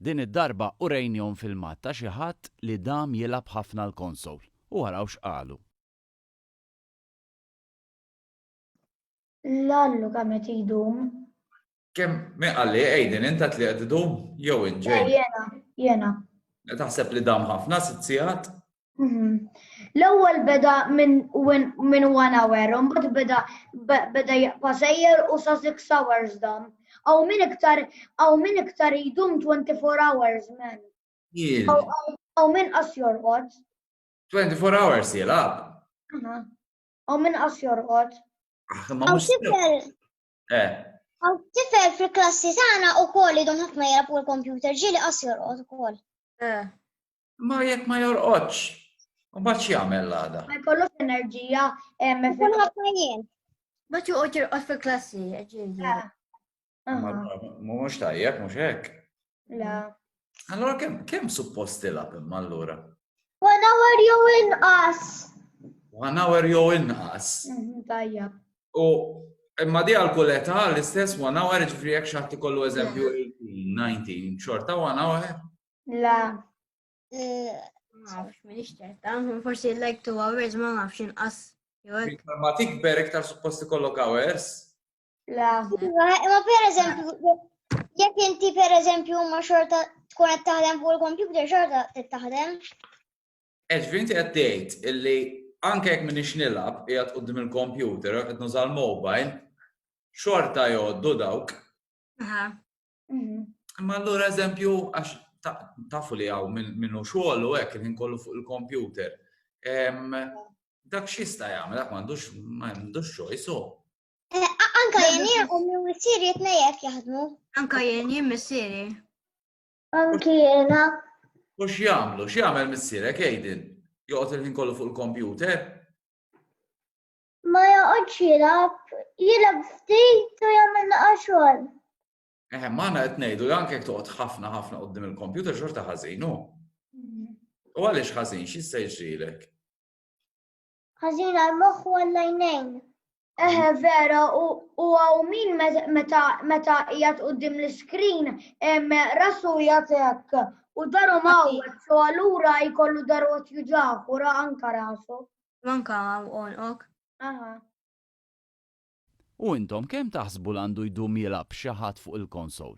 Din id-darba urejnihom filmat ta' xi ħadd li dam jilgħab ħafna l-konsowl u araw x'qalu. Lallu kemm qed idum. Kemm, min qal li, Aiden, int għedt li qed idum jew int, Jane? Le, jiena, jiena. Taħseb li dam ħafna, sitt siegħat? Mhm. L-ewwel beda minn minn one hour, u mbagħad beda beda jaqpa' sejjer u sa six hours dam. Aw min iktar aw min iktar jdum 24 hours men. Aw min qas jorqod. 24 hours jilgħab. Aw min qas jorqod. Ah, aw tifel. Eh. Aw tifel fil-klassi tagħna ukoll idum ħafna jilgħab u l-kompjuter ġieli qas jorqod ukoll. Eh. Ma jekk ma jorqodx, u bat jagħmel l-għada. Ma jkollux enerġija. Jkollu ħafna jien. Ma joqgħod jirqod fil-klassi, ġieli. Mhux tajjeb, mhux hekk. La. Allora kemm kemm suppost tilab imma allura? One hour jew inqas. One hour jew inqas. Mhm, tajjeb. U imma di għal kull età l-istess one hour ġifri jekk xaħti kollu eżempju 18, 19, xorta one hour. La. Mafx, minix ċerta, forsi like two hours ma nafx inqas. Iktar ma tikber, iktar suppost ikollok hours. La. Ma per eżempju, jekk inti per eżempju ma xorta tkun qed taħdem fuq il-kompjuter xorta qed taħdem. Eġvinti qed tgħid illi anke jekk minix nilab, jgħat qoddim il-kompjuter, qed nuża l-mobile, xorta jgħoddu dawk. Mhm. Ma allura eżempju, għax tafu li għaw minnu xogħol u hekk il-ħin kollu fuq il-kompjuter. Dak xista jagħmel, dak m'għandux m'għandux choice u. Eh, anka jien jien u minn missieri jtnejjek jaħdmu. Anka jien jien missieri. Anki jiena. U x'jagħmlu? X'jagħmel missierek jgħidin? Joqgħod il-ħin kollu fuq il-kompjuter? ma joqgħodx jilgħab, jilgħab ftit u jagħmel naqa' xogħol. Eħe, ma għana qed ngħidu li anke toqgħod ħafna ħafna qudiem il-kompjuter xorta ħażin hu. Mhm. U għaliex ħażin x'jista' jiġrilek? Ħażin għal moħħ u għall-għajnejn. Eħe vera, u għaw min meta jgħat u dim l-screen, rasu jgħatek, u daru maw, so għallura jkollu daru għat juġaħ, u ra anka rasu. Manka għonqok. Aha. U intom kemm taħsbu l għandu jdum jilgħab xi ħadd fuq il-konsol?